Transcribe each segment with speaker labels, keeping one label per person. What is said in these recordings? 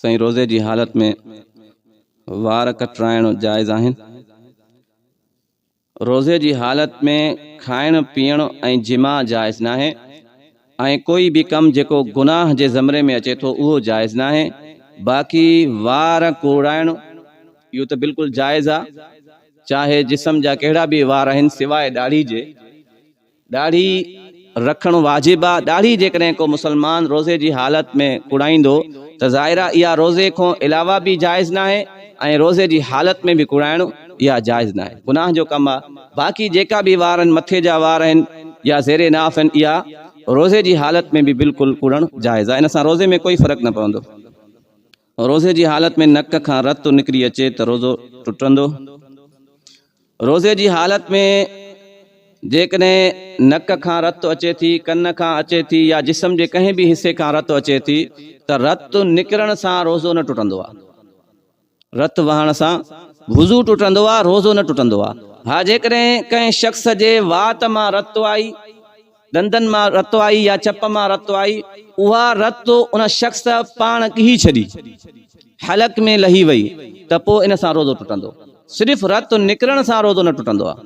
Speaker 1: سائين روزي جي حالت ۾ وار ڪٽرائڻ جائز آهن؟ روزي جي حالت ۾ کائڻ پيئڻ ۽ جماع جائز ناهي ۽ ڪوئي به ڪم جيڪو گناهه جي زمري ۾ اچي ٿو اهو جائز ناهي باقي وار ڪوڙائڻ اهو ته بلڪل جائز آ چاهي جسم جا ڪهڙا به وار آهن سواء ڏاڙهي جي. ڏاڙهي رکڻ واجب آ، ڏاڙهي جيڪڏهن ڪو مسلمان روزي جي حالت ۾ ڪوڙائيندو ته ظاهر آ اها روزي کون علاوه به جائز ناهي ۽ روزي جي حالت ۾ به ڪوڙائڻ اها جائز ناهي گناهه جو ڪم آ باقي جيڪا به وارن مٿي جا وار آهن يا زير ناف آهن اها روزي جي حالت ۾ به بلڪل ڪوڙڻ جائز آ ان سان روزي ۾ ڪوئي فرق نه پوندو. روزي جي حالت ۾ نڪ کان رت نڪري اچي ته روزو ٽٽندو. روزي جي حالت ۾ جيڪڏهن نڪ کان رت اچي ٿي، ڪن کان اچي ٿي يا جسم جي ڪنهن به حصي کان رت اچي ٿي ته رت نڪرڻ سان روزو نه ٽٽندو آهي. رت وهڻ سان وضو ٽٽندو آهي، روزو نه ٽٽندو آهي. ها جيڪڏهن ڪنهن شخص جي وات مان رت آئي. ڏندن مان رت آئي يا چپ مان رت آئي، اها رت ان شخص پاڻ ڪهي ڇڏي، حلق ۾ لهي وئي ته پوء ان سان روزو ٽٽندو. صرف رت نڪرڻ سان روزو نه ٽٽندو آهي.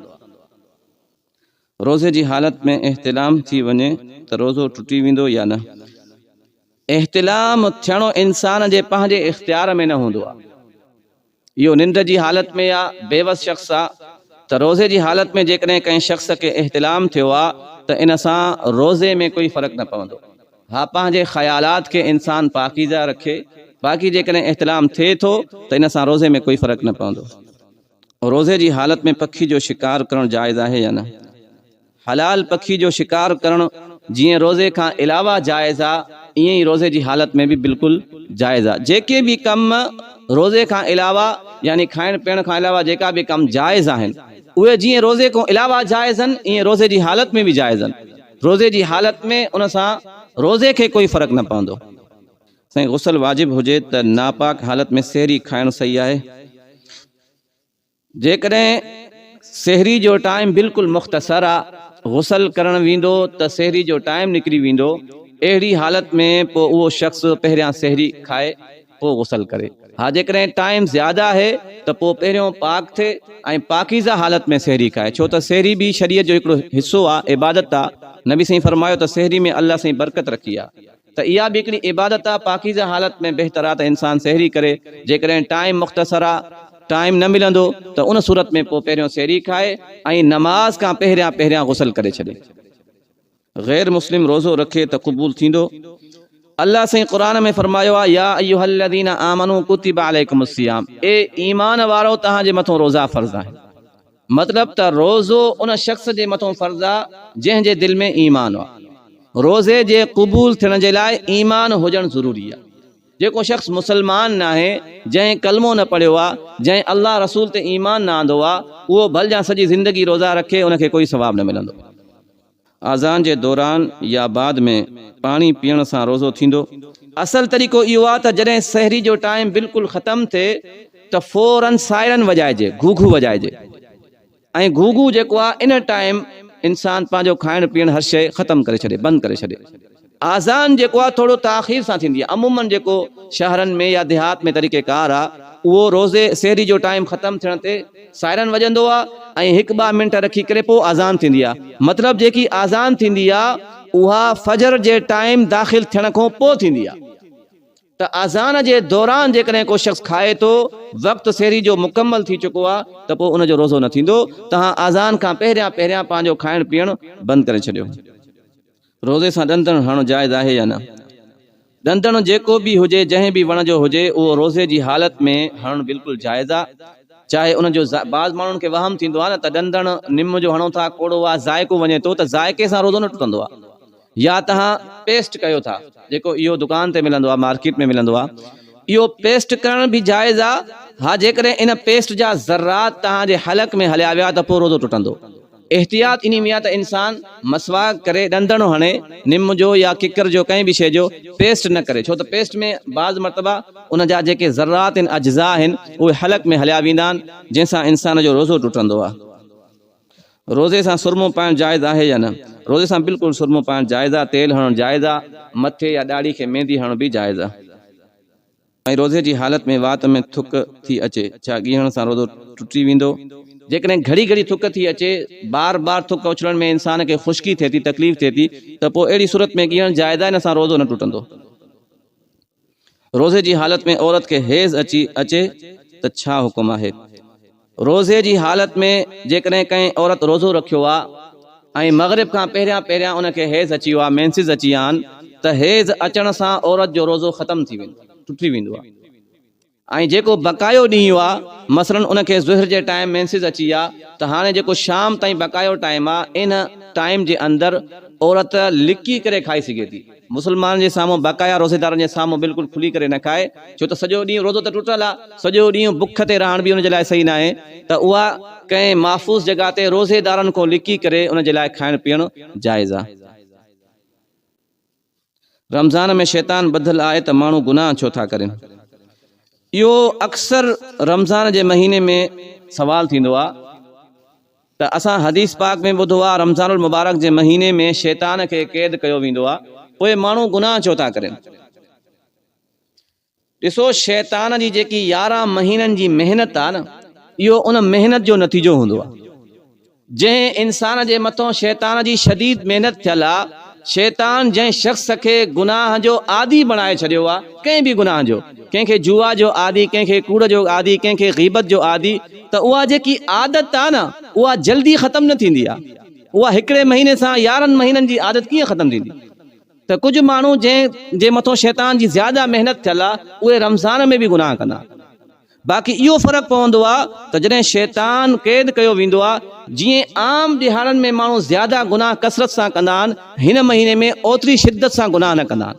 Speaker 1: روزي جي حالت ۾ احتلام ٿي وڃي ته روزو ٽٽي ويندو يا نه؟ احتلام ٿيڻو انسان جي پنهنجي اختيار ۾ نه هوندو آهي. اهو ننڊ جي حالت ۾ يا بيوس شخص آ ته روزي جي حالت ۾ جيڪڏهن ڪنهن شخص کي احتلام ٿيو آ ته ان سان روزي ۾ ڪوئي فرق نه پوندو. ها پنهنجي خيالات کي انسان پاڪيزه رکي باقي جيڪڏهن احتلام ٿئي ٿو ته ان سان روزي ۾ ڪوئي فرق نه پوندو. روزي جي حالت ۾ پکي جو شڪار ڪرڻ جائز آهي يا نه؟ حلال پکي جو شڪار ڪرڻ جيئن روزي کان علاوه جائز آ ايئن ئي روزي جي حالت ۾ به بلڪل جائز آ جيڪي به ڪم روزي کان علاوه يعني کائڻ پيئڻ کان علاوه جيڪا به ڪم جائز آهن اهي جيئن روزي کون علاوه جائز ان ايئن روزي جي حالت ۾ به جائز ان روزي جي حالت ۾ ان سان روزي کي ڪوئي فرق نه پوندو. سائين غسل واجب هجي ته ناپاڪ حالت ۾ سحري کائڻ صحيح آهي؟ جيڪڏهن سحري جو ٽائيم بلڪل مختصر آ غسل ڪرڻ ويندو ته سحري جو ٽائيم نڪري ويندو اهڙي حالت ۾ پو اهو شخص پهريان سحري کائي پو غسل ڪري ها جيڪڏهن ٽائيم زياده آهي ته پو پهريون پاڪ ٿئي ۽ پاڪيزه حالت ۾ سحري کائي ڇو ته سحري به شريعت جو هڪڙو حصو آ عبادت آ نبي سائين فرمايو ته سحري ۾ الله سائين برڪت رکي آ. ته اها به هڪڙي عبادت آ، پاڪيزه حالت ۾ بهتر آ ته انسان سحري ڪري، جيڪڏهن ٽائيم مختصر آ، ٽائيم نه ملندو ته ان صورت ۾ پوء پهريون سحري کائي ۽ نماز کان پهريان پهريان غسل ڪري ڇڏي. غير مسلم روزو رکي ته قبول ٿيندو؟ الله سائين قرآن ۾ فرمايو آ، يا ايها الذين آمنوا ڪتب عليکم الصيام اي ايمان وارؤ توهان جي مٿو روزا فرض آهن. مطلب ته روزو ان شخص جي مٿان فرض آ جنهن جي دل ۾ ايمان آ. روزي جي قبول ٿيڻ جي لاء ايمان هجڻ ضروري آ. جيڪو شخص مسلمان ناهي، جنهن ڪلمو نه پڙهيو آ، جنهن الله رسول تي ايمان نه آندو آ، اهو ڀل جان سڄي زندگي روزا رکي ان کي ڪوئي ثواب نه ملندو. آذان جي دوران يا بعد ۾ پاڻي پيئڻ سان روزو ٿيندو؟ اصل طريقو اهو آهي ته جڏهن سحري جو ٽائيم بلڪل ختم ٿئي ته فورا سائرن وڄائجي، گهوگهو وڄائجي ۽ گهوگهو جيڪو آهي ان ٽائيم انسان پنهنجو کائڻ پيئڻ هر شيء ختم ڪري ڇڏي، بند ڪري ڇڏي. آذان جيڪو آ ٿورو تاخير سان ٿيندي آ عمومن جيڪو شهرن ۾ يا ديهات ۾ طريقه ڪار آ اهو روزي سحري جو ٽائيم ختم ٿيڻ تي سائرن وڄندو آ ۽ هڪ ٻه منٽ رکي ڪري پو آذان ٿيندي آ مطلب جيڪي آذان ٿيندي آ اها فجر جي ٽائيم داخل ٿيڻ کون پو ٿيندي آ ته آذان جي دوران جيڪڏهن ڪو شخص کائي ٿو وقت سحري جو مڪمل ٿي چڪو آ ته پو ان جو روزو نه ٿيندو تهان آذان کان پهريان پهريان پنهنجو کائڻ پيئڻ بند ڪري ڇڏيو روزي سان ڏندڻ هڻڻ جائز آهي يا نه؟ ڏندڻ جيڪو به هجي، جنهن به وڻ جو هجي، اهو روزي جي حالت ۾ هڻڻ بلڪل جائز آهي، چاهي ان جو ذا بعض ماڻهن کي وهم ٿيندو آهي نه ته ڏندڻ نم جو هڻو ٿا، ڪوڙو آهي، ذائقو وڃي ٿو ته ذائقي سان روزو نه ٽٽندو آهي يا توهان پيسٽ ڪيو ٿا، جيڪو اهو دڪان تي ملندو آهي، مارڪيٽ ۾ ملندو آهي، اهو پيسٽ ڪرڻ به جائز آهي، ها جيڪڏهن ان پيسٽ جا ذرات توهان جي حلق ۾ هليا ويا ته پوء روزو ٽٽندو. احتياط انهي ۾ آهي ته انسان مسواڪ ڪري، ڏندڻو هڻي، نم جو يا ڪڪر جو ڪنهن به شيء جو پيسٽ نه ڪري، ڇو ته پيسٽ ۾ بعض مرتبا ان جا جيڪي ذرات ۽ اجزاء آهن، اهي حلق ۾ هليا ويندا آهن، جنهن سان انسان جو روزو ٽٽندو آهي. روزي سان سرمو پائڻ جائز آهي يا نه؟ روزي سان بلڪل سرمو پائڻ جائز آهي، تيل هڻڻ جائز آهي، مٿي يا ڏاڙهي کي ميندي هڻڻ به جائز آهي. ۽ روزي جي حالت ۾ وات ۾ ٿڪ ٿي اچي، ڇا ڳيهڻ سان روزو ٽٽي ويندو؟ جيڪڏهن گهڙي گهڙي ٿڪ ٿي اچي، بار بار ٿڪ اڇلڻ ۾ انسان کي خشڪي ٿئي ٿي، تڪليف ٿئي ٿي ته پوء اهڙي صورت ۾ ڳيهڻ جائز آهي، ان سان روزو نه ٽٽندو. روزي جي حالت ۾ عورت کي حيض اچي اچي ته ڇا حڪم آهي؟ روزي جي حالت ۾ جيڪڏهن ڪنهن عورت روزو رکيو آ ۽ مغرب کان پهريان پهريان ان کي حيض اچي ويو آ، Menses، اچي ويا آهن ته حيض اچڻ سان عورت جو روزو ختم ٿي ويندو آ، ٽٽي ويندو آ ۽ جيڪو بقايو ڏينهن آ مثلا ان کي ظهر جي ٽائيم Menses اچي ويا ته هاڻي جيڪو شام تائين بقايو ٽائيم آ ان ٽائيم جي اندر عورت لڪي ڪري کائي سگهي ٿي. مسلمانن جي سامهون باقايا روزيدارن جي سامهون بلڪل کلي ڪري نه کائي ڇو ته سڄو ڏينهن روزو ته ٽٽل آ سڄو ڏينهن بک تي رهڻ به ان جي لاء صحيح ناهي ته اها ڪنهن محفوظ جڳهه تي روزيدارن کون لڪي ڪري ان جي لاء کائڻ پيئڻ جائز آ. رمضان ۾ شيطان ٻڌل آهي ته ماڻهو گناهه ڇو ٿا ڪرين اهو اڪثر رمضان جي مهيني ۾ سوال ٿيندو آ. ته اسان حديث پاڪ ۾ ٻڌو آ رمضان المبارڪ جي مهيني ۾ شيطان کي قيد ڪيو ويندو آ پوء ماڻهو گناهه ڇو ٿا ڪرين ڏسو شيطان جي جيڪي يارهن مهينن جي محنت آ نه اهو ان محنت جو نتيجو هوندو آ جنهن انسان جي مٿو شيطان جي شديد محنت ٿيل آ شيطان جنهن شخص کي گناهه جو عادي بڻائي ڇڏيو آهي، ڪنهن به گناهه جو، ڪنهن کي جوا جو عادي، ڪنهن کي ڪوڙ جو عادي، ڪنهن کي غيبت جو عادي ته اها جيڪي عادت آهي نه اها جلدي ختم نه ٿيندي آهي، اها هڪڙي مهيني سان يارهن مهينن جي عادت ڪيئن ختم ٿيندي ته ڪجهه ماڻهو جنهن جي مٿو شيطان جي زياده محنت ٿيل آهي اهي رمضان ۾ به گناهه ڪندا آهن. باقي اهو فرق پوندو آهي ته جڏهن شيطان قيد ڪيو ويندو آهي، جيئن عام ڏهاڙن ۾ ماڻهو زياده گناهه ڪثرت سان ڪندا آهن، هن مهيني ۾ اوتري شدت سان گناهه نه ڪندا آهن.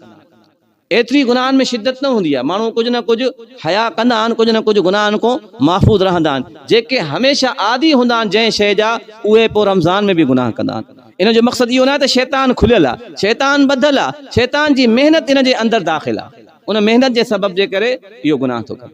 Speaker 1: ايتري گناهن ۾ شدت نه هوندي آهي، ماڻهو ڪجهه نه ڪجهه حيا ڪندا آهن، ڪجهه نه ڪجهه گناهن کون محفوظ رهندا آهن، جيڪي هميشه عادي هوندا آهن جنهن شيء جا، اهي پوء رمضان ۾ به گناهه ڪندا آهن. ان جو مقصد اهو ناهي ته شيطان کليل آهي، شيطان ٻڌل آهي، شيطان جي محنت ان جي اندر داخل آهي، ان محنت جي سبب جي ڪري اهو گناهه ٿو ڪري.